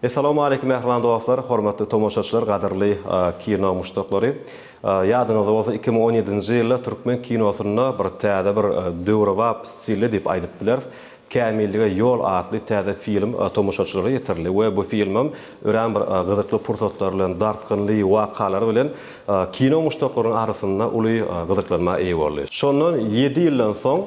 Essalawmaleýkim mähriban dostlar, hormatly tomaşaçylar, gadyrly kino muşdaklary. Ýadyňyzda bolsa iki müň on ýedinji ýylda türkmen kinosynda bir täze bir döwrebap stilde diýip aýdyp bileris, Kämillige ýol atly täze film tomaşaçylara ýetirildi we bu filmem örän bir gyzykly pursatlary bilen, dartgynly wakalary bilen kino muşdaklarynyň arasynda uly gyzyklanma eýe boldy. Şondan ýedi ýyldan soň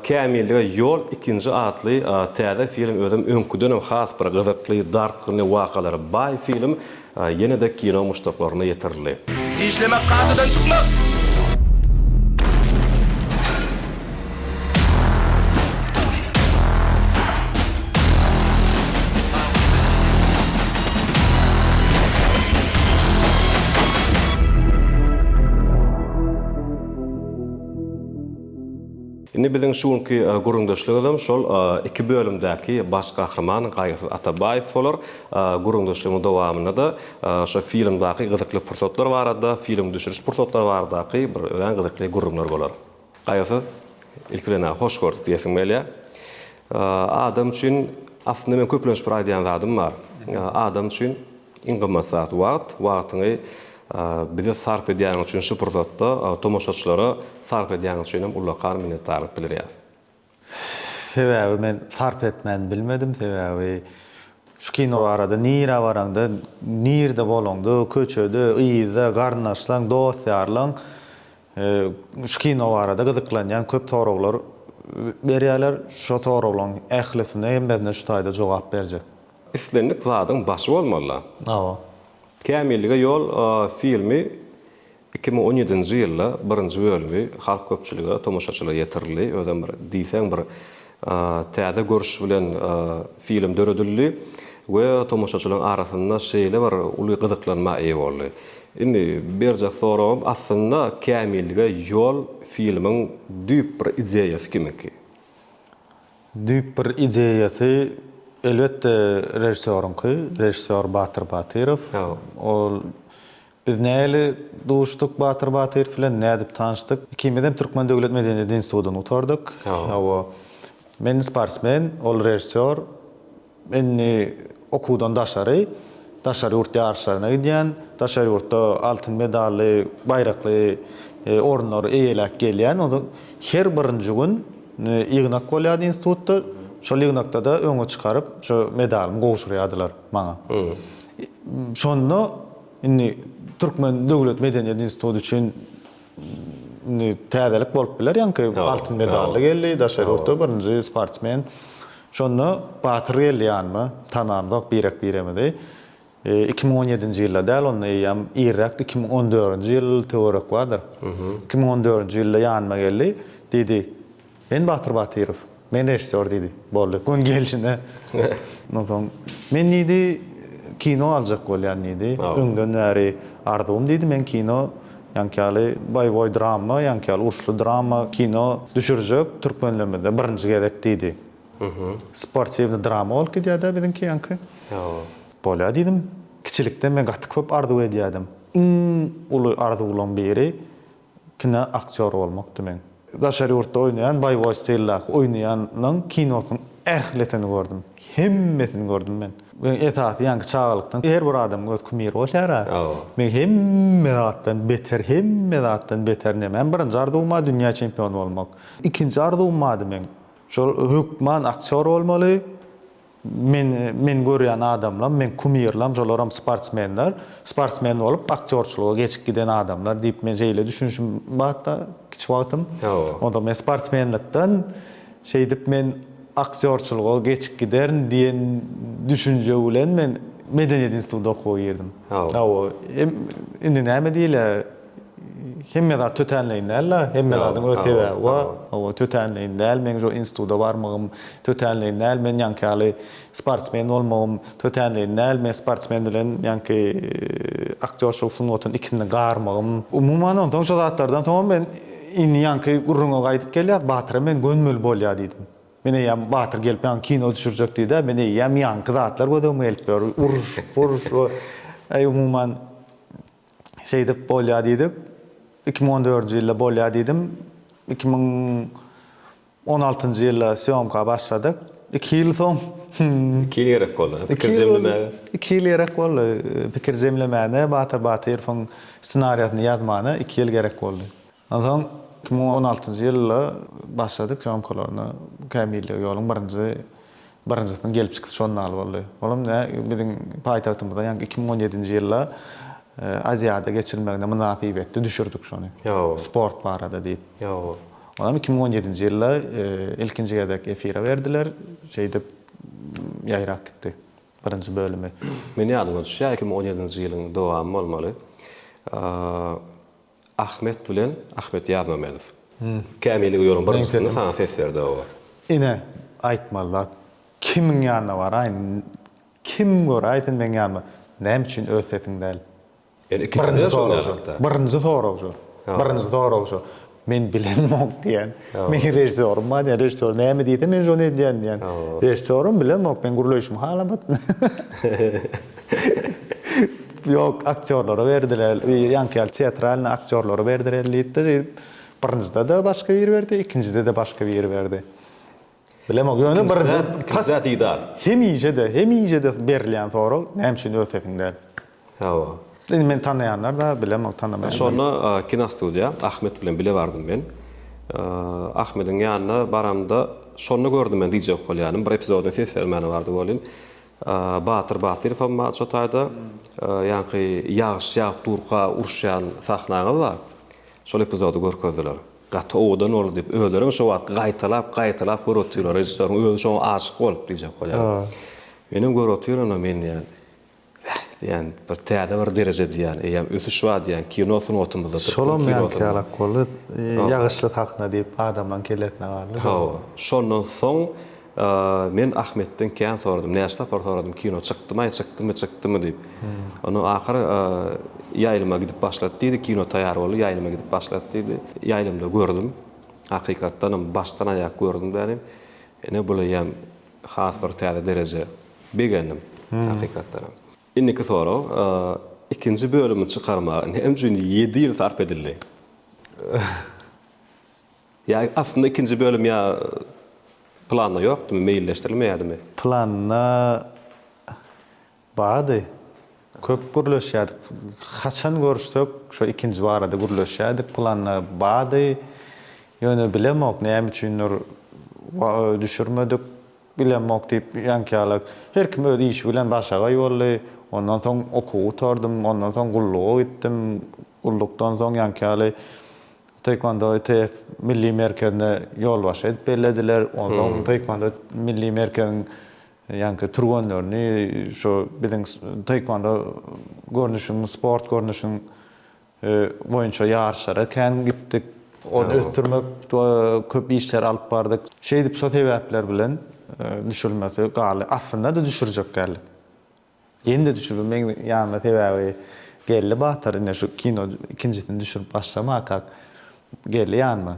Kämillige ýol ikinji atly täze film özem öňküdenem has bir gyzykly, dartgynly wakalara baý film ýene-de kino muşdaklaryna ýetirildi. Işlemek kadadan çykmak! Indi biziň şu günki gürrüňdeşligimizem şol iki bölümdäki baş gahryman Gaýgysyz Atabaýew bolar. Gürrüňdeşligiň dowamynda-da şu filmdaky gyzykly pursatlar barada, filmiň düşüriş pursatlary baradaky bir örän gyzykly gürrüňler bolar. Gaýgysyz, ilki bilen-ä hoş gördük diýesim gelýär. Adam üçin, aslynda meň köplenç bir aýdýan zadym bar. Adam üçin Iň gymmat zat, wagt. Wagtyňy bize sarp edýäniň üçin şu pursatda tomaşaçylara sarp edýäniň üçin hem ullakan minnetdarlyk bildirýäs. Sebäbi men sarp etmän bilmedim, sebäbi şu kino barada nirä baraňda, nirde bolaňda, köçede, yzda garyndaşlaň, dost-ýarlaň şu kino barada gyzyklanýan köp soraglar berýärler. Şo soraglaryň ählisine, hemmesine şu taýda jogap berjek. Islendik zadyň başy bolmaly-la. Hawa. Kämillige ýol filmi iki müň on ýedinji ýylda birinji bölümi halk köpçülige, tomaşaçylara ýetirildi. Özem bir diýseň bir täze görüş bilen film döredildi we tomaşaçylaryň arasynda şeýle bir uly gyzyklanma eýe boldy. Indi berjek soragym aslynda Kämillige ýol filmiň düýp bir ideýasy kimiňki? Düýp bir ideýasy, elbetde, režissýoryňky, režissýor Batyr Batyrow. Ol Biz nähili duşduk Batyr Batyrow bilen, nädip tanşdyk? Ikimizem Türkmen döwlet medeniýet institutyny gutardyk. Hawa. Men sportsmen, ol režissýor. Indi okuwdan daşary, daşary ýurt ýaryşlaryna gidýän, daşary ýurtda altyn medally, baýrakly orunlary eýeläp gelýän. Ol her birinji gün ýygnak bolýardy institutda. Şol ýygnakda-da öňe çykaryp, şo medalymy gowşurýardylar maňa. Şonda indi Türkmen döwlet medeniýet instituty üçin Indi täzelik bolup biler, ýaňky altyn medally geldi, daşary ýurtda birinji sportsmen. Şonda Batyr geldi ýanyma, tanandok birek-biremizi. Iki müň on ýedinji ýylda däl, onda eýýäm irräkdi, iki müň on dördünji ýyl töwerek bardyr. Iki müň on dördünji ýylda ýanyma geldi, diýdi, Men Batyr Batyrow. Men režissýor diýdi. Boldy. Gün gelşine. Ondan soň, Men diýdi, kino aljak bolýan diýdi. Öňden bäri arzuwym diýdi, men kino ýaňky ýaly boýboý drama, ýaňky ýaly uruşly drama kino düşürjek türkmenlerimizde birinji gezek diýdi. Sportiwny drama bolup gidýär-dä biziňki ýaňky. Bolýar diýdim. Kiçilikden men gaty köp arzuw edýärdim. Iň uly arzuwlaryň biri Kino aktýory bolmakdy meň. Daşary ýurtda oýnaýan boýowy stildaky oýnaýanyň kinosynyň ählisini gördüm. Hemmesini gördüm men. Meň esasy ýaňky çagalykdan her bir adamyň öz kumiri bolýar-a. Meň hemme zatdan beter, hemme zatdan beter nemäm? Birinji arzuwym-a dünýä çempiony bolmak. Ikinji arzuwym bardy meň. Şol hökman aktýor bolmaly. Men men görýän adamlam, men kumirlam şolaram sportsmenler. Sportsmen bolup aktýorçylyga geçip giden adamlar diýip men şeýle düşünişim batda kiçi wagtym. Onda men sportsmenlikden şeýdip men aktýorçylyga geçip giderin diýen düşünje bilen men medeniýet institutyna okuwa girdim. Hawa. Hem indi näme diýilýär? Hemme zat tötänleýin däl-de, hemme zadyň öz sebäbi bar. Hawa, tötänleýin däl, meň şu instituta barmagym, tötänleýin däl, men ýaňky ýaly sportsmen bolmagym, tötänleýin däl, men sportsmen bilen ýaňky aktýorçylyk sungatyny ikisini garmagym. Umuman, onsoň şo zatlardan soňam men indi ýaňky gürrüňe gaýdyp gelýäs, Batyra men gönmeli bolýa diýdim. Men eýýäm Batyr gelip maňa kino düşürjek diýdi-ä, men eýýäm ýaňky zatlar gözegime gelip ýör, uruş, puruş we, eý, umuman, şeýdip bolýar diýdik. Iki müň on dördünji ýylda bolýar diýdim. Iki müň on altynjy ýylda sýomka başladyk. Iki ýyl soň Iki ýyl gerek boldy pikir jemlemäge. Iki ýyl gerek boldy pikir jemlemäne, Batyr Batyrowyň ssenariýasyny ýazmana iki ýyl gerek boldy. Onsoň iki müň on altynjy ýylda başladyk sýomkalaryna. Kämillige ýoluň birinji birinjisiniň gelip çykyş žurnaly boldy. Olam nä biziň paýtagtymyzda ýaňky iki müň on ýedinji ýylda Aziada geçirilmegine mynasybetli düşürdik şony. Sport barada diýip. Olam iki müň on ýedinji ýylda ilkinji gezek efire berdiler. Şeýdip ýaýrap gitdi birinji bölümi. Meniň ýadyma düşýär iki müň on ýedinji ýylyň dowamy bolmaly. Ahmet bilen Ahmet Ýazmamedow. Kämili ýoluň bir nji synda saňa ses berdi oba. Ine aýtmaly zat kimiň ýanyna baraýyn kim göräýsin meň ýanyma näme üçin öz sesiň däl. Ýöne ikinjisinde şol däl hatda. Birinji sorag şu. Birinji sorag şu. Men bilemok diýen. Meň režisýorym bar diýen. Režisýor näme diýse men şony edýän diýen. Režisýorym bilemok men gürleýşimi halamat. Ýok, aktýorlara berdiler, ýa ýaňky ýaly teatralnyý aktýorlara berdiler diýipdir, ýa birinjide-de başga biri berdi, ikinjide-de başga biri berdi. Bilemok, ýöne birinji pas hemişe-de, hemişe-de berilýän sorag, näme üçin öz sesiň däl? Hawa. Indi meni tanaýanlar bar, bilemok, tanamaýanlar. Şonda kinostudiýa, Ahmet bilen bile bardym men. Ahmediň ýanyna baramda, şonda gördüm men DJ Okolýany, bir epizodyna ses bermäne bardy welin, Batyr Batyrow hem bar şo taýda. Ýaňky ýagyş ýagyp durka uruşýan sahnaňyz bar. Şol epizody görkezdiler. Gaty owadan boldy diýip, özleri hem şo wagtky gaýtalap, gaýtalap görüp otyrlar. Režissýoryň özi şoňa aşyk bolup diýjek bolýar. Men hem görüp otyryn ony, men diýýän. Bäh diýýän, bir täze bir dereje diýýän, eýýäm ösüş bar diýýän kino sungatymyzda. Şolam ýaňky ýalak boldy. Ýagyşly sahna diýip adamlaryň kellesine galdy. Hawa. Şondan soň. Men Ahmetden kän soradym, näçe sapar soradym, kino çykdymaý, çykdymy, çykdymy diýip. Ondan ahyr ýaýlyma gidip başlady diýdi, kino taýýar boldy, ýaýlyma gidip başlady diýdi. Ýaýlymda gördüm, hakykatdanam başdan aýak gördüm dänim. Ine buleýýäm has bir täze dereje. Begendim, hakykatdanam. Indiki sorag, ikinji bölümi çykarmaga näme üçin ýedi ýyl sarp edildi? Ýa aslynda ikinji bölüm ýa planda ýokdymy, meýilleşdirilmeýädimi? Planda bardy. Köp gürleşýärdik. Haçan görüşsek şo ikinji barada gürleşýärdik. Planda bardy. Ýöne bilemok näme üçindir düşürmedik. Bilemok diýip ýaňkyýalak. Her kim öz işi bilen başagaý boldy. Ondan soň okuw gutardym. Ondan soň gulluga gitdim. Gullukdan soň ýaňky ýaly Taekwondo ITF Milli merkezine ýolbaşçy edip bellediler. Onda onuň Taekwondo Milli merkeziň ýaňky türgenlerini şu biziň taekwondo görnüşiniň, sport görnüşiniň boýunça ýaryşlara kän gitdik. Ony ösdürmek köp işleri alyp bardyk. Şeýdip şo sebäpler bilen düşürilmesi galy. Aslynda-da düşürjek däldik. Ýene-de düşüribem meň ýanyma sebäbi geldi Batyr ine şu kino ikinjisini düşürip başlamakak geldi ýanyma.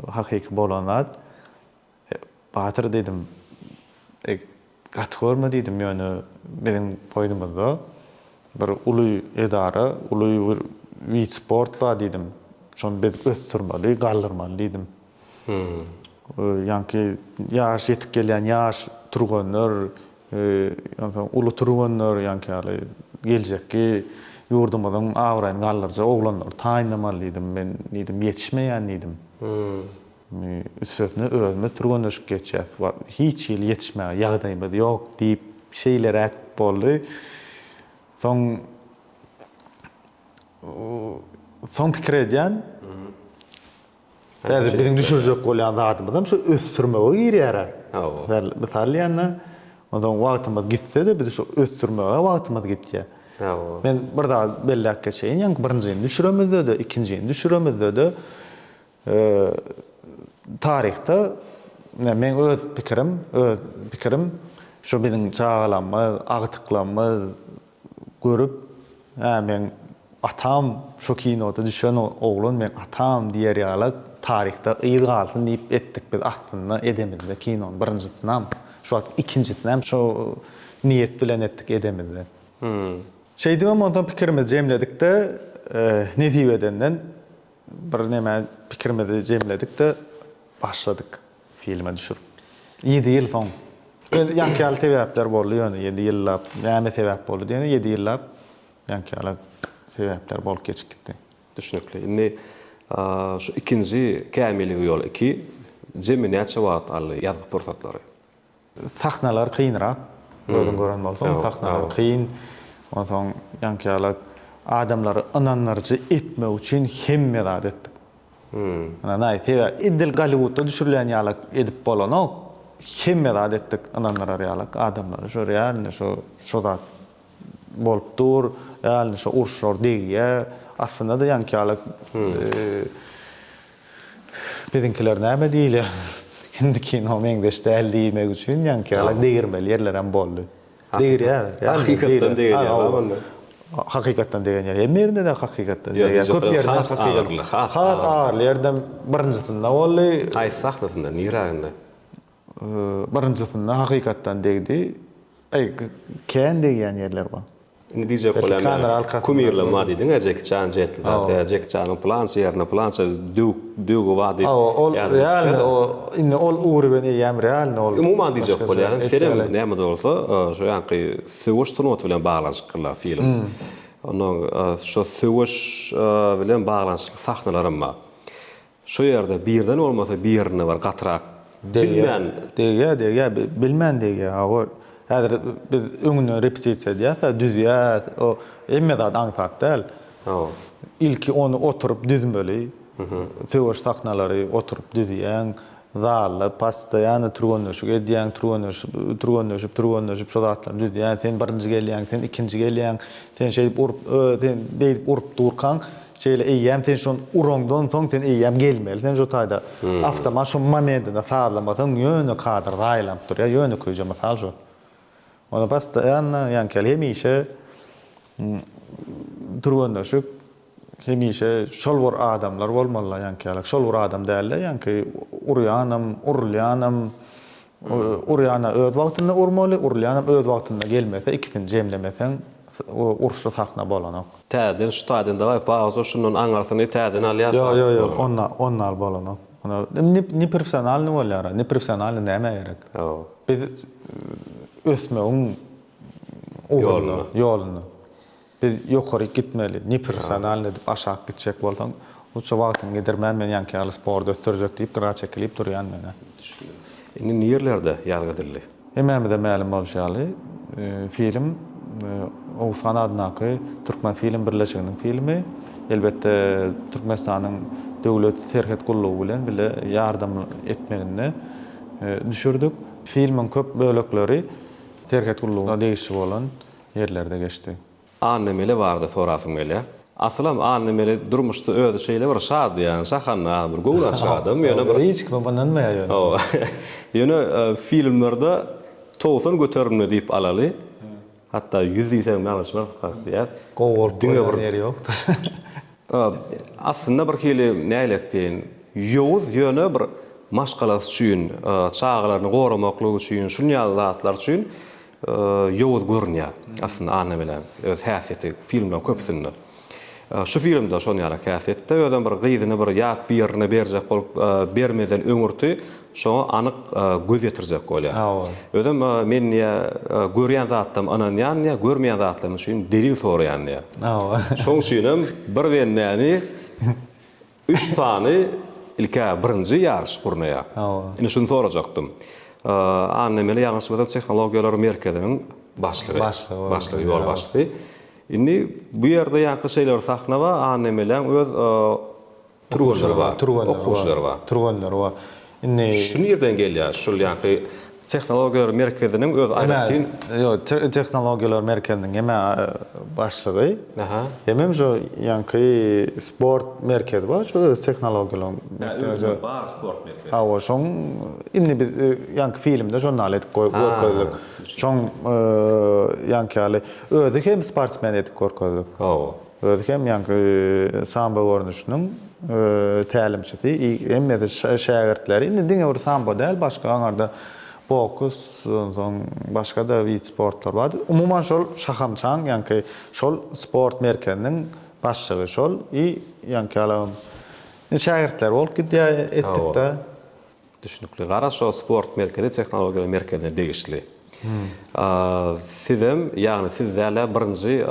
Hakyky bolan zat. Batyr diýdim gaty görme diýdim ýöne biziň goýnumyzda bir uly edara uly bir wid sport bar diýdim. Şony biz ösdürmeli galdyrmaly diýdim. Ýaňky ýaş ýetip gelýän ýaş türgenler Onsoň uly türgenler, ýaňky ýaly geljekki ýurdumyzyň abraýyny galdyrjak oglanlary taýynlamaly diýdim. Men diýdim, ýetişmeýän diýdim. Üstesine özümiz türgenleşip geçýäs. Hiç hili ýetişmäge ýagdaýymyz ýok diýip, şeýleräk boldy. Soň soň pikir edýän. Häzir biziň düşürjek bolýan zadymyzam şu ösdürmege girýär-ä. Hawa. Mysal diýende, onsoň wagtymyz gitse-de biz şu ösdürmege wagtymyz gitýär. Hawa. Men bir zat belläp geçeýin, ýaňky birinjini düşüremizde-de, ikinjini düşüremizde-de taryhda meň öz pikirim, öz pikirim şu biziň çagalarymyz, agtyklarymyz, görüp, Hä, meň atam şu kinoda düşen oglan meň atam diýer ýalak taryhda yz galsyn diýip etdik biz aslynda edemizde kinony birinjisinem şu wagt ikinjisinem şu niýet bilen etdik edemizde. Şeýdibem onsoň pikirimizi jemledikde nesip edenden bir neme pikirimizi jemledikde başladyk. Filme düşürip. Ýedi ýyl soň. Öz ýaňky ýaly sebäpler boldy ýöne ýedi ýyllap näme sebäp boldy diýende ýedi ýyllap ýaňky ýaly sebäpler bolup geçip gitdi. Düşnükli. Indi şu ikinji kämilligiň ýoly iki jemi näçe wagt aldy ýazgy pursatlary? Sahnalar kynrak, özüň gören bolsaň, sahnalar kyn. Onsoň ýaňkyýalak adamlary ynandyryjy etmek üçin hemme zat etdik. Ynanaý, sebäp edil Golliwudda düşürilýän ýalak edip bolanok. Hemme zat etdik ynandyrar ýalak adamlary. Şu realny şu şu zat bolup dur, realny şu uruşlar degýär. Aslynda-da ýaňkyýalak Biziňkiler näme diýilýär? Hindi kino meňzeş däl diýmek üçin ýaňky ýaly degirmeli ýerlerem boldy. Degirýär. Hakykatdan degirýär bar onda. Hakykatdan degen ýer. Hemme ýerinde-de hakykatdan degýär. Köp ýerde has agyrly, has agyrly ýerdem birinjisinde boldy. Haýsy sahnasynda, niräginde? Birinjisinde hakykatdan degdi. Eý, kän degýän ýerler bar. Indi diýjek bolýan men, kumirler bar diýdiň-ä Jeki Çan jeýtdi dagy, Jeki Çanyň plança ýerine plança döwük döwügi bar diýip. Hawa, ol realny, o indi ol ugry bilen eýýäm realny ol. Umuman diýjek bolýaryn, senem näme-de bolsa, şu ýaňky söweş sungaty bilen baglanyşyklylar film. Onnoň şo söweş bilen baglanyşykly sahnalaram bar. Şu ýerde birden bolmasa birinde bir gatyrak bilmän. Degýär degýär bilmän degýär hawa häzir biz öňünden repetisiýa edýäsä düzýäs o hemme zat aňsat däl hawa ilki ony oturyp düzmeli söweş sahnalary oturyp düzýäň zalda pastoýany türgenleşik edýäň türgenleşip türgenleşip türgenleşip şo zatlary düzýäň sen birinji gelýäň sen ikinji gelýäň sen şeýdip urup sen beýdip urup durkaň Şeýle eýýäm sen şon uraňdan soň sen eýýäm gelmeli sen şo taýda awtomat şo momentinde sazlamasaň ýöne kadr zaýalanyp durýar ýönekeýje mysal şo onda postoýanna ýaňkeli hemişe türgenleşik hemişe şol bir adamlar bolmalylar ýaňkylak şol bir adam dälde ýaňky urýanam urulýanam Urýana öz wagtynda urmaly, urulýanam öz wagtynda gelmese, ikisini jemlemeseň uruşly sahna bolanok. Täzeden ştaden daway pauza şundan aňyrsyny täzeden alýas. Ýok ýok ýok onda onda al bolanok. Onda neprifsionalny bolýar a neprifsionalny nämä gerek. Biz ösmegiň ugrunda ýolunda. Biz ýokaryk gitmeli, neprofessionalny edip aşak gitjek bolsaň, lutşa wagtyň gider, mä men ýaňky ýaly sporty ösdürjek diýip gyra çekilip durýan menä. Düşündim. Indi nirlerde ýazgy edildi? Hemmämize mälim bolşy ýaly, film Oguzhan adyndaky Türkmenfilm birleşiginiň filmi. Elbetde Türkmenistanyň Döwlet serhet gullugy bilen bile ýardam etmeginde düşürdik. Filmiň köp bölekleri serhet gullugyna degişli bolan ýerlerde geçdi. Annamäli barada sorasym gelýär. Asylam Annamäli durmuşda özi şeýle bir şadyýan, şahandaz, bir göwün açyk adam, ýöne bir. Hiç kime ynanmaýar ýöne. Hawa. Ýöne filmlerde togsan göterimde diýip alaly. Hatda ýüz diýseň ýalňyşmarys kak diýýär. Gowy bolup görünen ýeri ýokdur. Aslynda bir hili näleýek diýeýin, ýowuz, ýöne bir maşgalasy üçin, çagalaryny goramaklygy üçin, şunýaly zatlar üçin ýowuz görünýär aslynda Annabeläň öz häsiýeti filmleriň köpüsinde. Şu filmde şon ýaly häsiýetde özem bir gyzyny bir ýat birine berjek bolup bermeden öňürti şoňa anyk göz ýetirjek bolýar. Özem men diýýär görýän zatlarym ynanýan diýýär görmeýän zatlarym üçin delil soraýan diýýär. Şoň üçinem bir bendäni Üç sany ilk-ä birinji ýaryş gurnaýar. Ine şuny sorajakdym. Anna Mele ýalňyşmasam tehnologiýalar merkeziniň başlygy. Başlygy. Başlygy, ýolbaşçysy. Indi bu ýerde ýaňky şeýle bir sahna bar, Anna Meleň öz türgenleri bar. Türgenleri bar. Okuwçylary bar. Türgenleri bar. Indi şu nirden gelýär? Şul ýaňky tehnologiýalar merkeziniň öz aýratyn. Ýok, tehnologiýalar merkeziniň hemä başlygy. Aha. Hemem şu ýaňky sport merkezi bar, şu öz tehnologiýalaryň. Hä, özüniň bar sport merkezi. Hawa, şoň indi biz ýaňky filmde şony naýle edip görkezdik. Şoň ýaňky ýaly özi hem sportsmen edip görkezdik. Hawa. Özi hem ýaňky sambo görnüşiniň tälimçisi, hemmesi şägirtleri. Indi diňe bir sambo däl, başga aňarda boks, onsoň başga-da wid sportlar bar. Umuman şol şahamçaň ýaňky şol sport merkeziniň başlygy şol i ýaňky ýalam şägirtleri bolup gidýär etdik-de. Düşnükli. Gara şo sport merkezi tehnologiýalar merkezine degişli. Sizem, ýagny siz däl-ä birinji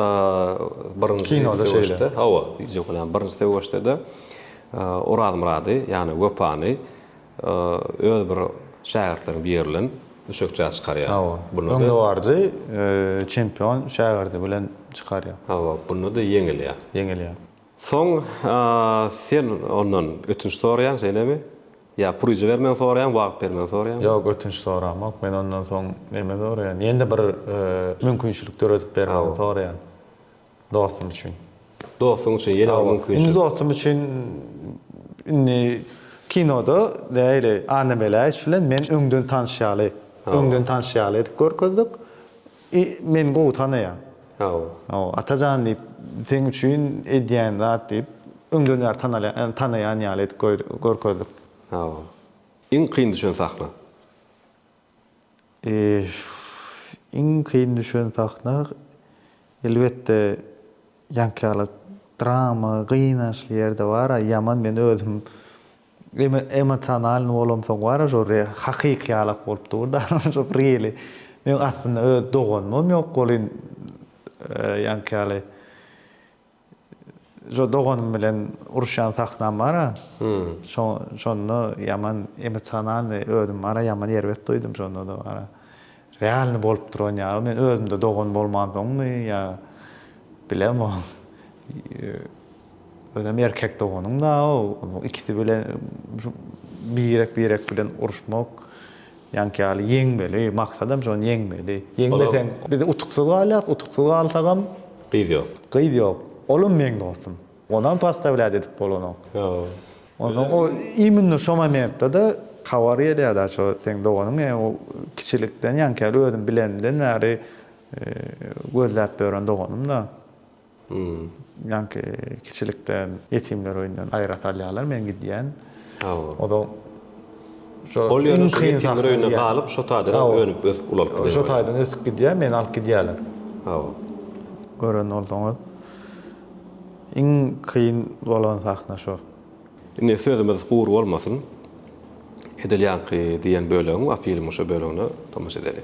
birinji Kinoda şeýle. Hawa, birinji söweşde-de Orazmyrady, ýagny Wepany öz bir şägirtleriniň biri bilen düşekçä çykarýar. Hawa. Bunda öňdebaryjy çempion şägirdi bilen çykarýar. Hawa, bunda-da ýeňilýär. Ýeňilýär. Soň sen ondan ötünç soraýaň, şeýlemi? Ýa pul ijibermegini soraýaň, wagt bermegini soraýaňmy? Ýok, ötünç soramok. Men ondan soň näme soraýan? Ýene-de bir mümkinçilik döredip bermegini soraýan. Dostum üçin. Dostuň üçin ýene bir mümkinçilik. Indi dostum üçin indi kinoda nähili Anna Meläýewiç bilen men öňden tanyş ýaly, öňden tanyş ýaly edip görkezdik. I meni gowy tanaýaň. Haw. Haw, Atajan diýip, seň üçin edýän zat diýip, öňden bäri tanalýan, tanaýan ýaly edip görkezdik. Haw. Iň kyn düşen sahna? I iň kyn düşen sahna, elbetde, ýaňky ýaly drama, gynaçly ýerde bar-a, ýaman men özüm Emosionalny bolamsoň bara şo re hakyky ýalak bolup dur da şo reli meň aslynda öz doganymam ýok bolyn ýaňky ýaly şo doganym bilen uruşýan sahnam bara şo şonda ýaman emosionalny özüm bara ýaman erbet duýdum şonda da bara. Realny bolup duran ýaly men özümde dogan bolmansoňmy ýa bilem ol özem erkek doganyň dao onuň ikisi bilen şu birek birek bilen uruşmak ýaňky ýaly ýeňmeli maksadam şony ýeňmeli ýeňmeseň biz utuksyz galýas utuksyz galsagam gyz ýok gyz ýok olam meň dostum Onam postavlýat edip bolanok. Onsoň o immino şo momentde-de habar gelýär-de şo seň doganyň e o kiçilikden ýaňky özüm bilenimden bäri gözläp ýören doganym-da. Ýaňky kiçilikden ýetimler öýünden aýra salýarlar men gidýän. O-da şo Ol ýöne şo ýetimler öýünde galyp şo taýdan önüp ösüp ulalypdy diýen. Şo taýdan ösüp gidýär, meni alyp gidýärler. Hawa. Gören bolsaňyz. Iň kyn bolan sahna şo. Indi sözümiz gury bolmasyn edil ýaňky diýen bölegiň bar filmiň şo bölegine tomaşa edeli.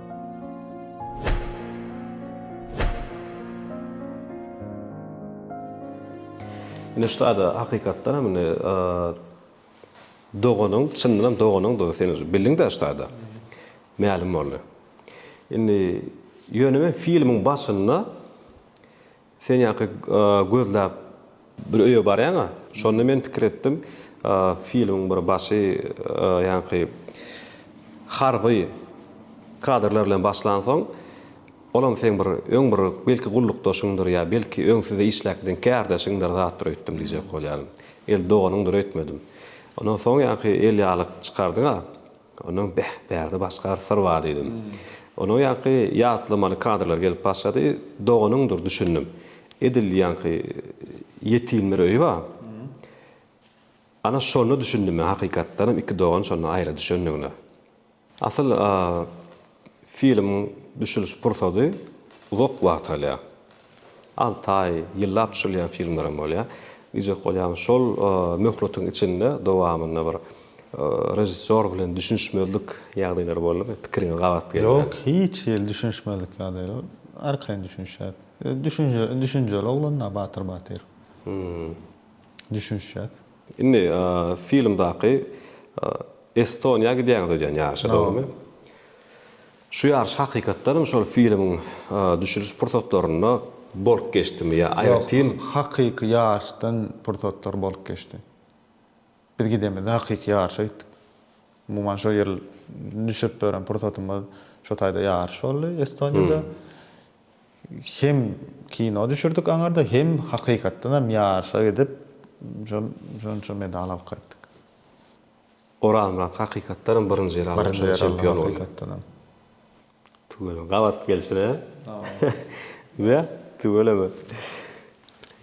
Ine şuda-da hakykatdan hem indi doganyň, çyndan hem doganyňdygy sen uje bildiň-dä şuda-da. Mälim boldy. Indi ýöne men filmiň başynda Sen ýaňky gözläp bir öýe barýaň-a. Şonda men pikir etdim, filmiň bir başy ýaňky harby kadrlar bilen başlansoň, olam seň bir öň bir belki gullukdaşyňdyr ýa belki öň sizde işläpdiň kärdeşiňdir zatdyr öýtdüm diýjek bolýaryn. El doganyňdyr öýtmedim. Ondan soň ýaňky elýalyk çykardyň-a. Ondan beh, bärde başga bir syr bar diýdim. Onuň ýaňky ýatlamaly kadrlary gelip başlady. Doganyňdyr düşündim. Edil ýaňky ýetim bir öýi bar. Ana şonda düşündim men hakykatdanam iki dogan şonda aýra düşendigine. Asyl filmiň düşüliş pursady uzak wagt alýar. Alty aý, ýyllap tutulýan filmler hem bolýar. Diýjek bolýan, şol möhletiň içinde, dowamynda bir režissýor bilen düşünişmezlik ýagdaýlary boldumy? Pikiriňiz gabat gelmän. Ýok, hiç hili düşünişmezlik ýagdaýlary. Arkaýyn düşünişýäris. Özi düşünjeli oglan-da Batyr Batyrow. Düşünişýäris. Indi filmdaky Estoniýa gidýäňiz öýdýän ýaryşa, dogrumy? Şu ýaryş hakykatdanam şol filmiň düşüriş pursatlarynda bolup geçdimi ýa aýratyn? Ýok, hakyky ýaryşdan pursatlar bolup geçdi. Biz gidemizde hakyky ýaryşa gitdik. Umuman şo ýyl düşürip beren pursatymyz şo taýda ýaryş boldy Estoniýada. Hem kino düşürdik aňyrda, hem hakykatdanam ýaryşa gidip şonça medal alyp gaýtdyk. Orazmyrat hakykatdan hem birinji ýer aldy şonda çempion boldy. Birinji ýer aldy hakykatdan hem. Tüweleme gabat gelşine. Näme? Tüweleme.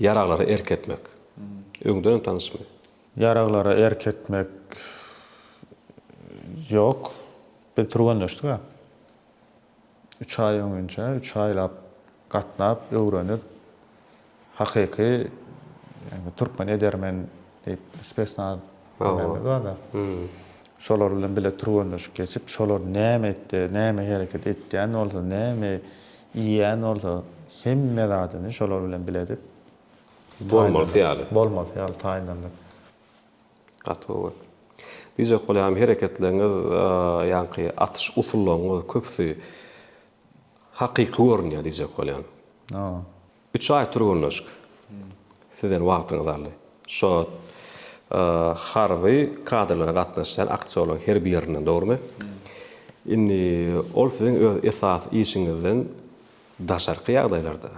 Ýaraglara erk etmek. Öňden hem tanyşmy? Ýaraglara erk etmek ýok. Biz türgenleşdik-ä. Üç aý öňinçä, üç aýlap gatnap, öwrenip, hakyky ýagny türkmen edermen diýip spesnaz diýýänlerimiz bar-da. Şolar bilen bile türgenleşik geçip, şolar näme etdi, näme hereket etýän bolsa, näme iýýän bolsa, hemme zadyny şolar bilen bile edip, bolmasy ýaly, bolmasy ýaly taýynlandyk. Gaty gowy. Diýjek bolýan hereketleriňiz ýaňky atyş usullaryňyz köpüsi hakyky görünýär diýjek bolýan. Üç aý türgenleşik sizden wagtyňyzy aldy. Şo harby kadrlara gatnaşýan aktýorlaryň her birinden dogrymy? Indi ol siziň öz esasy işiňizden daşarky ýagdaýlarda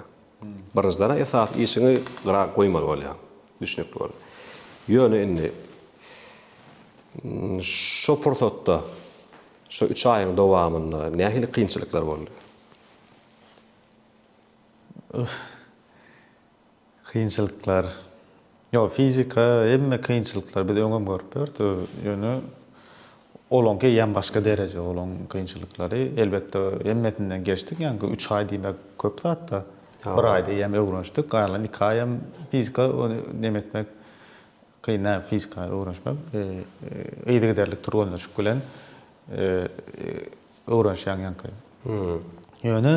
Birinjiden esasy işiňi gyra goýmaly bolýar. Düşnükli boldy. Ýöne indi şu pursatda şu üç aýyň dowamynda nähili kynçylyklar boldy? Kynçylyklar Ýok, fizika hemme kynçylyklary biz öňem görüp ýörüs, ýöne olaňky eýýäm başga dereje, olaň kynçylyklary. Elbetde, hemmesinden geçdik, ýaňky üç aý diýmek köp zat-da. Bir aýda eýýäm öwrenişdik, galan iki aý hem fizika, ony neme etmek kyn däl, fizika öwrenişmek. Yzygiderli türgenleşik bilen öwrenişýäň ýaňky. Ýöne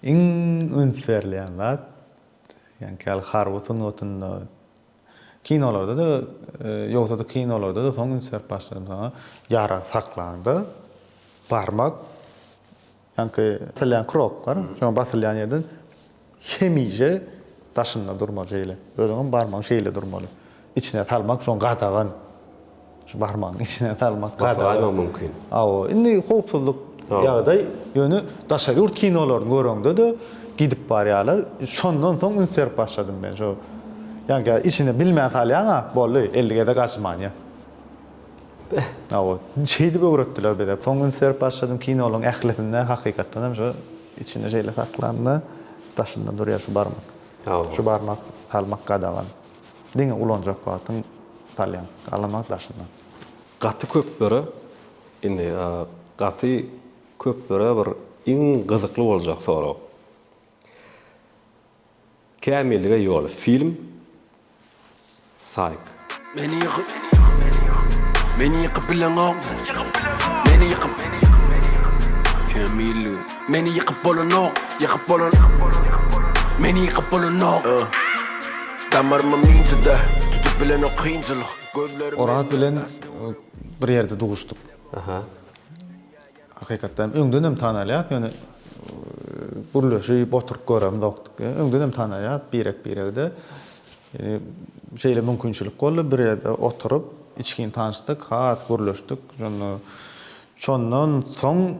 iň üns berilýän zat, Ýaňky-ýaly harby sungatynda, kinolarda-da, ýogsa-da kinolarda-da soň üns berip başladym saňa. Ýarag saklanda, barmak, ýaňky basylýan kropka, şoň basylýan ýerden hemişe daşynda durmaly şeýle. Özüňem barmagyň şeýle durmaly. Içine salmak şoň gadagan. Şu barmagyň içine salmak bolsa. Gazanmak mümkin. Hawa, indi howpsuzlyk ýagdaý, ýöne daşary ýurt kinolaryny göreňde-de gidip barýarlar. Şondan soň üns berip başladym men şo. Ýa-da içine bilmän salýaň-a, boldy, elli gezek açmanýa. Hawa, şeýdip öwretdiler bize. Soň üns berip başladym kinolaryň ählisinde hakykatdan hem şo içinde şeýle saklanda daşynda durýar şu barmak. Şu barmak salmak gadagan. Diňe ulanjak wagtyň salýaň galama daşyndan. Gaty köp böre indi gaty köp böre bir iň gyzykly boljak sorag Kämillige ýol film Saýk. Meni ýykyp Meni ýykyp bileňok Meni ýykyp Kämillige. Meni ýykyp bolanok, ýykyp bolan Meni ýykyp bolanok Damarymam ýyncida, tutup bilenok kynçylyk Gözlerim Oraz bilen bir ýerde duşduk. Hakykatdanam öňdenem tanalýas, ýöne gürleşip oturyp göremzokdyk. Öňdenem tanalýas birek-biregde. Şeýle mümkinçilik boldy, bir ýerde oturyp içgin tanyşdyk, has gürleşdik. Şonda Şondan soň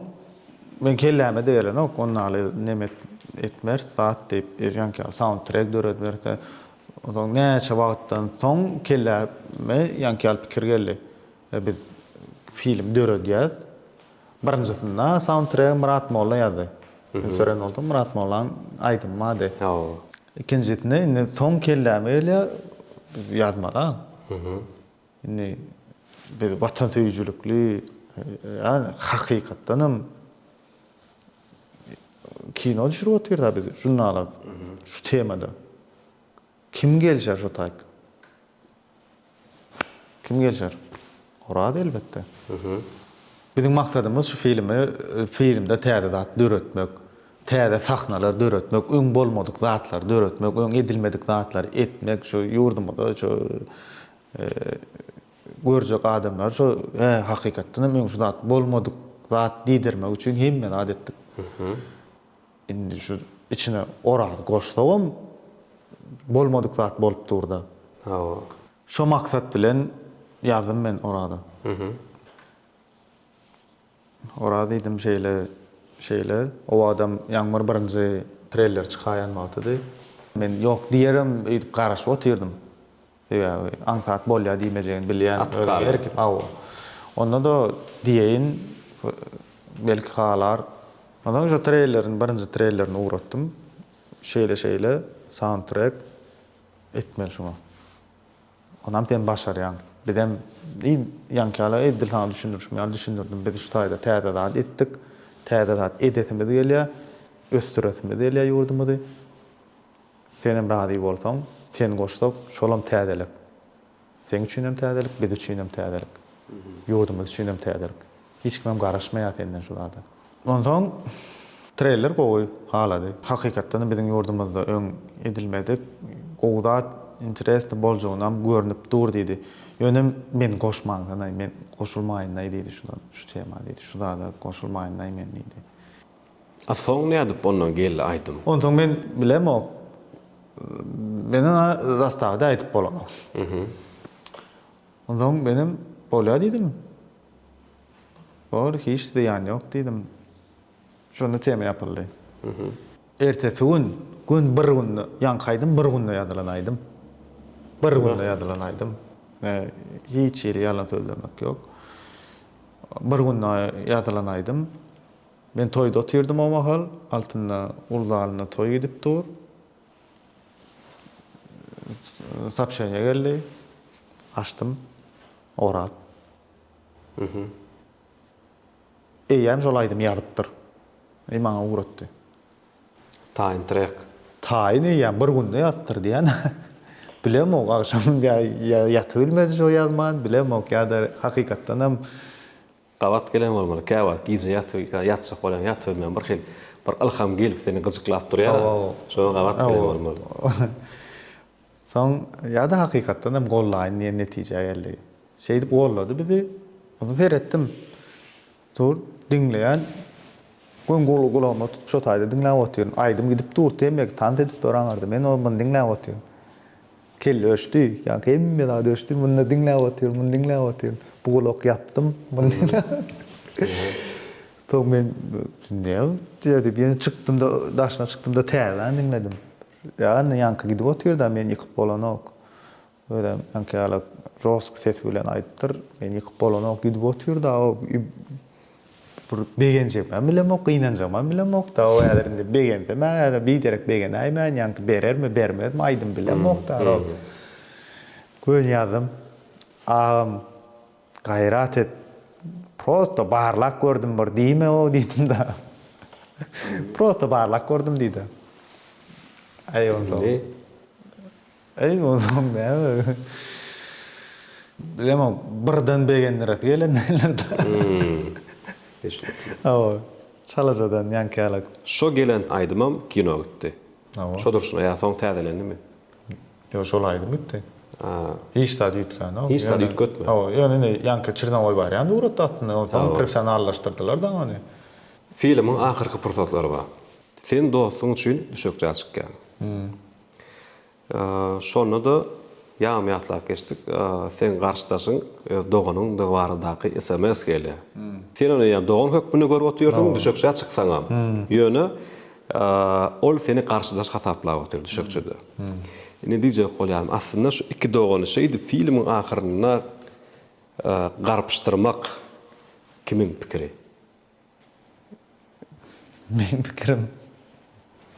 men kelläme-de gelenok, ony aly neme etmeris zat diýip, ýanka soundtrek döredip soň näçe wagtdan soň kelläme ýanka ýaly pikir geldi. Biz film döredýäs. Birinjisinde soundtregi Myrat Molla ýazdy. Men sören boldum, Myrat Mollanyň aýdymy bar diýip. Ikinjisinde indi soň kelläme gelýär, biz ýazmaly-a. Indi biz watansöýüjilikli, ýa-ni hakykatdan hem kino düşürip otyrys-a biz žurnala şu temada. Kim gelişer şo taýk? Kim gelişer? Oraz elbetde. Biziň maksadymyz şu filmi, filmde täze zat döretmek. Täze sahnalar döretmek, öň bolmadyk zatlary döretmek, öň edilmedik zatlary etmek, şu ýurdumyzda şu görjek adamlar şu hä, hakykatdan hem öň şu zat bolmadyk zat diýdirmek üçin hemme zat etdik. Indi şu içine Oraz goşsagam bolmadyk zat bolup dur-da. Hawa. Şo maksat bilen ýazdym men Oraza. Oraz diýdim şeýle, şeýle. Owadam Ýagmyr birinji trelleri çykaýan wagtydy. Men ýok diýerem öýdüp garaşyp otyrdym. Sebäbi aňsat bolýar diýmejegini bilýän. Atyp galar. Hawa. Onda-da diýeýin, belki halar. Ondan soň şo trellerini, birinji trellerini ugratdym. Şeýle-şeýle, saundtrek etmeli şuňa. Onam sen başarýaň. Bizem iň ýaňky ýaly edil saňa düşündirişim ýaly düşündirdim. Biz şu taýda täze zat etdik. Täze zat edesimiz gelýär. Ösdüresimiz gelýär ýurdumyzy. Senem razy bolsaň, sen goşsak, şolam täzelik. Seň üçinem täzelik, biz üçinem täzelik. Ýurdumyz üçinem täzelik. Hiç kimem garaşmaýar senden şu zada. Onsoň treyler gowy halady. Hakykatdanam biziň ýurdumyzda öň edilmedik gowy zat, interesni boljagynam görnüp dur diýdi. Ýönem meni goşmansynaý, men goşulmaýynlaý diýdi şu zada, şu tema diýdi, şu zada goşulmaýynlaý men diýdi. A soň nädip ondan geldi aýdym? Onsoň men bilemok. Menden a zastawy-da aýdyp bolanok. Onsoň menem bolýa diýdim. Bor, hiç zyýan ýok diýdim. Şonda tema ýapyldy. Ertesi gün, gün bir günde, ýaňky aýdym bir günde ýazylan aýdym. Bir günde ýazylan aýdym. Hiç hili ýalan sözlemek ýok. Bir günde ýazylan aýdym. Men toýda otyrdym o mahal. Altynda uly zalynda toý gidip dur. Sopşeniýe geldi. Açdym. Oraz. Mhmm. Eýýäm şol aýdymy ýazypdyr. I maňa ugratdy. Taýyn trek. Taýyn eýýäm bir günde ýazypdyr diýýän. Bilemok agşam ýa ýa ýatybilmedi şo ýazman, bilemok ýa-da hakykatdanam. Gabat gelen bolmaly, käwagt gije ýatyp, ýatjak bolýaň, ýatybermän bir hil, bir ylham gelip seni gyjyklap durýar-a. Şoňa gabat gelen bolmaly. Soň ýa-da hakykatdan hem gollaýyn diýen netijä geldi. Şeýdip gollady bizi. Onda seretdim. Dur, diňleýän. Göni gulagyma tutup şo taýda diňläp otyryn. Aýdym gidip dur, temeki tans edip dur aňyrda. Men o-muny diňläp otyryn. Kelle öçdi, ýa hemme zat öçdi, muny diňläp otyryn, muny diňläp otyryn. Bu gulak ýapdym, muny diňläp otyryn. Soň men näme diýýär diýip, ýene çykdym-da, daşyna çykdym-da täzeden diňledim. Ýa ýaňky gidip otyr-da, meni ýykyp bolanok. Özem ýaňky ýaly josk ses bilen aýdypdyr, meni ýykyp bolanok, gidip otyr-da o. Bir begenjegimem bilemok, gynanjagymam bilemok, dawa häzir indi begensemä häzir biderek begenäýmän, ýaňky berermi, bermezmi aýdym bilemok darol. Göni ýazdym. Agam gaýrat et, prosto barlap gördüm bir diýme-ow diýdim-de. Prosto barlap gördüm diýdi. Aý onsoň. Eý bozum näme bilemok birden begendiresi gelen nälerdir. Hawa çalajadan ýaňky ýalak. Şo gelen aýdymam kino gitdi. Hawa. Şo durşuna ýa soň täzelendimi? Ýok şol aýdym gitdi. Hiç zat üýtgänok. Hiç zat üýtgetme. Hawa ýöne indi ýaňky Çrnowoý barýan suratda aslynda ony soň professionallaşdyrdylar da ony. Filmiň ahyrky pursatlary bar. Sen dostuň üçin düşekçä çykýaň. Şonda-da ýagmy ýatlap geçdik. Seň garşydaşyň öz doganyňdygy baradaky sms gelýär. Sen ony ýa dogan hökmünde görüp otyrsyň, düşekçä çyksaňam. Ýöne ol seni garşydaş hasaplap otyr düşekçede. Indi diýjek bolýarym, aslynda şu iki dogany şeýdip filmiň ahyrynda garpyşdyrmak kimiň pikiri? Meň pikirim,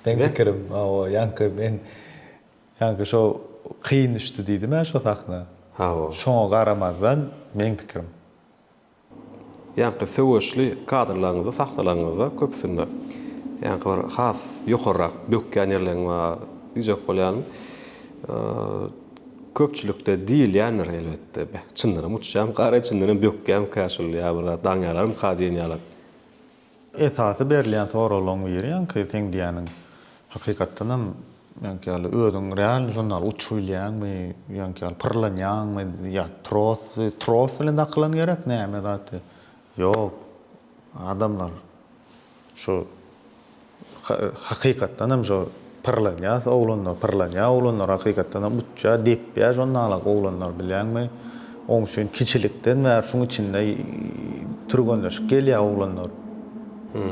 meň pikirim, hawa, ýaňky men, ýaňky şo kyn düşdi diýdim-ä şo sahna. Hawa. Şoňa garamazdan, meň pikirim. Ýaňky söweşli kadrlaryňyzda, sahnalaryňyzda köpüsinde, ýaňky bir has ýokarrak bökýän ýerleriň bar diýjek bolýaryn. Köpçülikde diýilýändir elbetde. Beh, çyndanam uçýamyka-reý, çyndanam bökýämika şul ýa bir zat, daňýalarmyka diýen ýaly. Esasy berilýän soraglaryň biri ýaňky seň diýýäniň, hakykatdanam ýaňky ýaly özüň realny şon ýaly uçup bilýäňmi, ýaňky ýaly pyrlanýaňmy ýa tros, tros bilen dakylan gerek näme zat, ýok, adamlar. Şu hakykatdanam şu pyrlanýas oglanlar pyrlanýa oglanlar hakykatdanam uçýa depýä şondalag oglanlar bilýäňmi oň üçin kiçilikden bäri şuň içinde türgenleşip gelýä oglanlar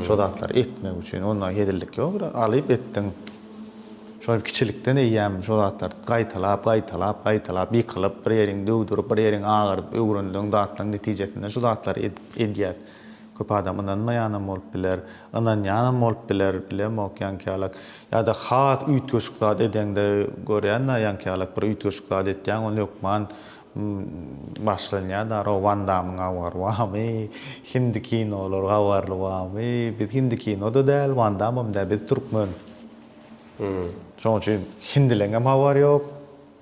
şo zatlary etmek üçin onda hezillik ýok bir alyp etdiň şo kiçilikden eýýäm şo zatlary gaýtalap gaýtalap gaýtalap ýykylyp bir ýeriňi döwdürip bir ýeriňi agyrdyp öwrendiň zatlaryň netijesinde şu zatlary edýäs. Köp adam ynanmaýanam bolup biler, ynanýanam bolup biler, bilemok ýaňkyýalak. Ýa-da has üýtgeşik zat edeňde görýän dagy ýaňkyýalak bir üýtgeşik zat etýäň ol hökman başlanýar dagy row wan damyň habary barmy, hindi kinolar habarly barmy, biz hindi kinoda däl, wan damam däl, biz türkmen. Şoň üçin hindileňem habary ýok,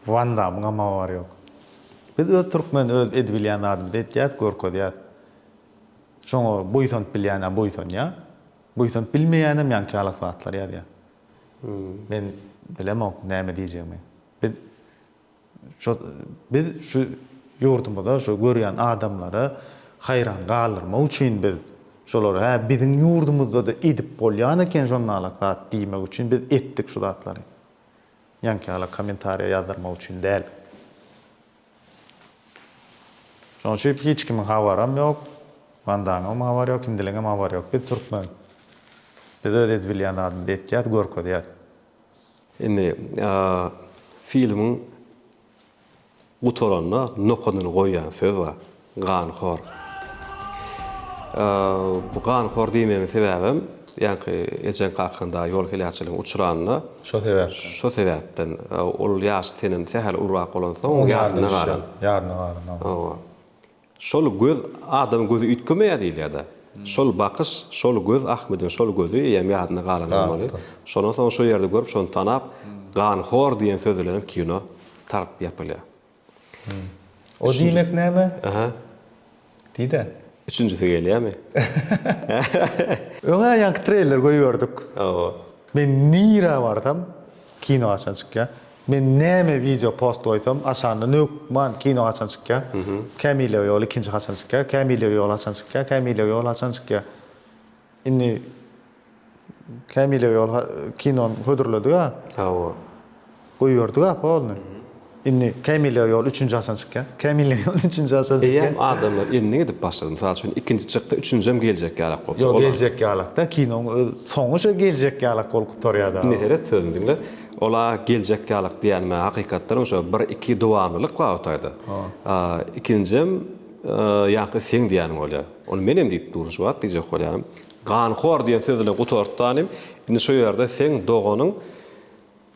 wan damyňam habary ýok. Biz öz türkmen öz edibilýän zadymyzy etýäs, görkezýäs. Şoňa buýsanyp bilýän-ä buýsanýar, buýsanyp bilmeýänem ýaňkyýalak zatlar ýazýar. Men bilemok näme diýjegimi. Biz şo biz şu ýurdumyza, şu görýän adamlary haýran galdyrmak üçin biz şolary hä biziň ýurdumyzda-da edip bolýan eken şonalak zat diýmek üçin biz etdik şu zatlary. Ýaňkyýalak kommentariýa ýazdyrmak üçin däl. Şonuň üçin hiç kimiň habaram ýok. Wan Dangyňam habary ýok, Hindiliňem habary ýok. Biz türkmen. Biz öz edip bilýän zadymyzy etýäs, görkezýäs. Indi filmiň gutaranda nokanyny goýýan söz bar. Ganhor. Bu ganhor diýmegiň sebäbem, ýaňky ejeň kakaň dagy ýol heläkçiligine uçranda, Şo sebäpden. şo sebäpden, ol ýaşy senden sähel ulubrak bolansoň, oň ýadyna galan. Ýadyna galan, hawa. Hawa. Şol göz, adamyň gözi üýtgemeýär diýilýär-de. Şol bakyş, şol göz, Ahmediň şol gözi eýýäm ýadyna galan bolmaly. Şondan soň şo ýerde görüp, şony tanap, Ganhor diýen söz bilenem kino tarap ýapylýar. O diýmek näme? Aha. Diýde. Üçünjisi gelýärmi? Öňä ýaňky treýler goýberdik. Hawa. Men nirä barsam, kino haçan çykýar? Men näme wideo post goýsam, aşagyndan hökman kino haçan çykýar? Kämilýew ýoly ikinji haçan çykýar? Kämilýew ýoly haçan çykýar? Kämilýew ýoly haçan çykýar? Indi Kämilege ol kinony hödürledik-ä. Hawa. Goýberdik apa ony. Indi Kämilege ýol üçünji haçan çykýar? Kämilege ýol üçünji haçan çykýar? Eýýäm adamlar indi gidip başlady. Mysal üçin, ikinji çykdy, üçünjem geljek ýalak bolup. Ýok, geljek ýalak-da. Kinoň öz soňy şo geljek ýalak bolup gutarýar-da. Indi seret, sözümi diňle. Ol-a geljek ýalak diýýänime hakykatdanam şo bir-iki dowamlylyk bar o taýda. Ikinjem ýaňky seň diýýäniň bolýar. Ony menem diýip durun şu wagt diýjek bolýaryn. Ganhor diýen söz bilen gutartdy hanym. Indi şu ýerde seň doganyň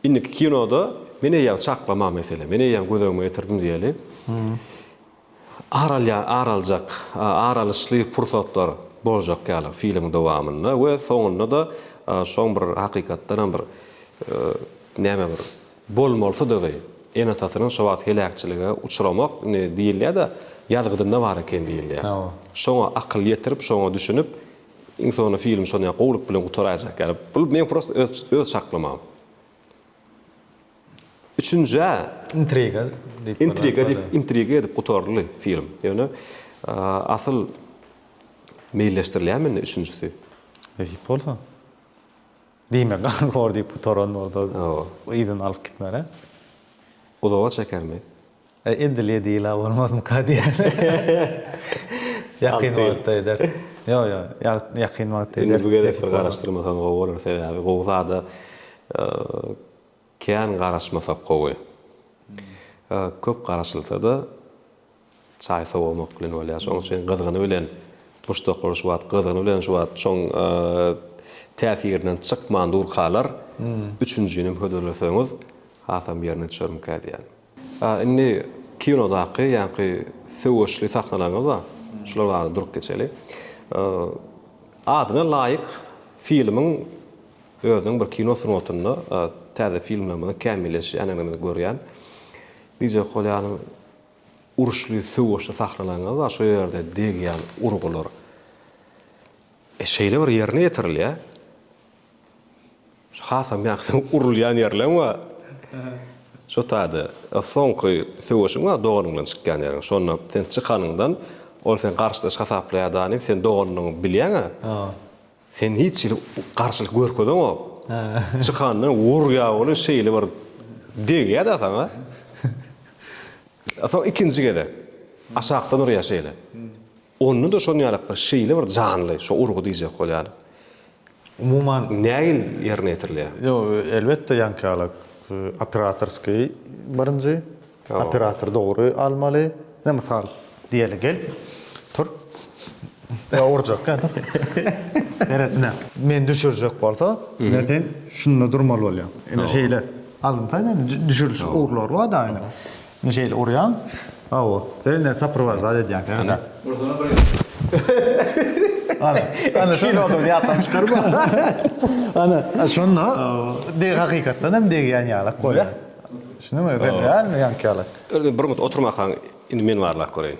indiki kinoda men eýýäm çaklama meselem, men eýýäm göz öňüme getirdim diýeli. Ar alýan, ar aljak, ar alyşly pursatlar boljak ýaly filmiň dowamynda we soňunda-da şoň bir hakykatdanam bir näme bir bolmalysydygy, ene-atasynyň şo wagt heläkçilige uçramak, indi diýilýär-de, ýazgydynda bar eken diýilýär. Şoňa akyl ýetirip, şoňa düşünip, iň soňunda film şony ýaly gowulyk bilen gutaraýjak ýaly. Bu meň prosta öz öz çaklamam. Üçünjä. Intriga diýip. Intriga diýip, intriga edip gutaryldy film. Ýöne asyl meýilleşdirilýärmi indi üçünjisi? Nesip bolsa. Diýme, gan hor diýip gutaran bolsa, yzyny alyp gitmeli. Uzaga çekermi? Edil edil-ä bolmazmyka diýýän. Ýakyn wagtda eder. Ýok, ýok, ýakyn wagtda eder. Indi bu gezek bir garaşdyrmasaň gowy bolar, sebäbi gowy zada Kän garaşmasak gowy. Köp garaşylsa-da, çaý sowamak bilen bolýar. Şonuň üçin gyzgyny bilen duşdaklar şu wagt gyzgyny bilen şu wagt şoň täsirinden çykman durkalar, üçünjinem hödürleseňiz, hasam ýerine düşermikä diýýän. A indi kinodaky ýaňky söweşli sahnalaryňyz bar. Şular barada durup geçeli. Adyna laýyk filmiň özüniň bir kino sungatynda täze filmlerimiziň kämilleşýän ýanygny görýän Dije Kolýanyň uruşly söweşli sahnalaryňyz bar. Şo ýerde degýän urgular şeýle bir ýerine ýetirilýär. Şu hasam ýaňky urulýan ýerleň bar. Şu taýda soňky söweşiň bar doganyň bilen çykýan ýeriň. Şonda sen çykanyňdan ol seni garşydaş hasaplaýar da nim sen doganyňy bilýäňä. Sen hiç hili garşylyk görkezeňok. Çykanda urýar ony şeýle bir degýär da saňa. Soň ikinji gezek aşakdan urýar şeýle. Onda-da şonuň ýaly bir şeýle bir janly, şo urgy diýjek bolýan. Umuman. Nägil ýerine ýetirilýär? Ýok, elbetde, ýaňkyýalak operatorskiý birinji, operatory dogry almaly. Ine, mysal, diýeli, gel, tur. Ýa urjak ýa da. Seret, ine, meni düşürjek bolsa, ine, sen şunda durmaly bolýaň. Ine, şeýle alynsa, ine, düşüriş urlary bar-da, ine. Indi şeýle urýaň. Hawa. Sen indi soprowaždat edýäň seni de. Ursana bir ýumruk. Ana, ana şonda ýatdan çykarma. Ana, şonda degi hakykatdan hem degýän ýalak bolýar. Düşündiňmi? Real ýaňky ýalak. Indi bir mut oturmakaň, indi men barlap göreýin.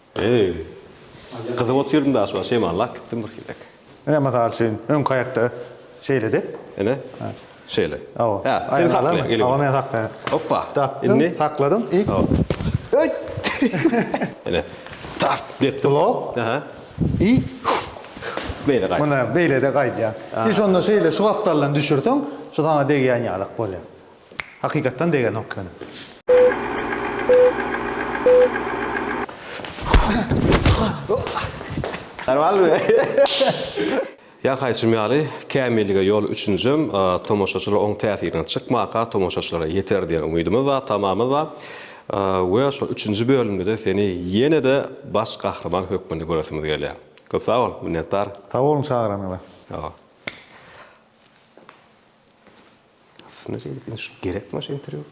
Eý, gyzyp otyryn daş bar, şeýman lak gitdim bir hillek. Ine, mysal üçin, öňki aýakda şeýledi. Ine, şeýle. Hawa. Hä, sen sakla, gel indi. Hawa, men saklaýan. Hoppa. Tapdym, sakladym i. Hawa. Öý! Ine, tap, depdim. Blok. Aha. I. Beýle gaýt. Muna beýle-de gaýdýar. I şonda şeýle şu gapdaldan düşürseň, şu saňa degýän ýalak bolýar. Hakykatdan degenok ýöne. Ýa-haýçym ýaly, kämillige ýol üçünjem tomaşaçylar oň täsirinden çykmaka tomaşaçylara ýeter diýen umydymyz bar, tamamyz bar we şol üçünji bölümde-de seni ýene-de baş gahryman hökmünde göresimiz gelýär. Köp sag bol, minnetdar. Sag boluň çagyranyňyza. Sag bol. Aslynda şeýdip indi şu gerekmi şu interwýu?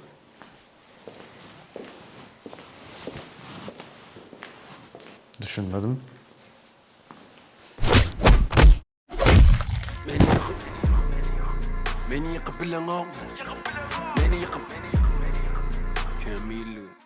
Düşünmedim. Meni ýykyp Meni ýykyp bileňok Meni ýykyp Kemilli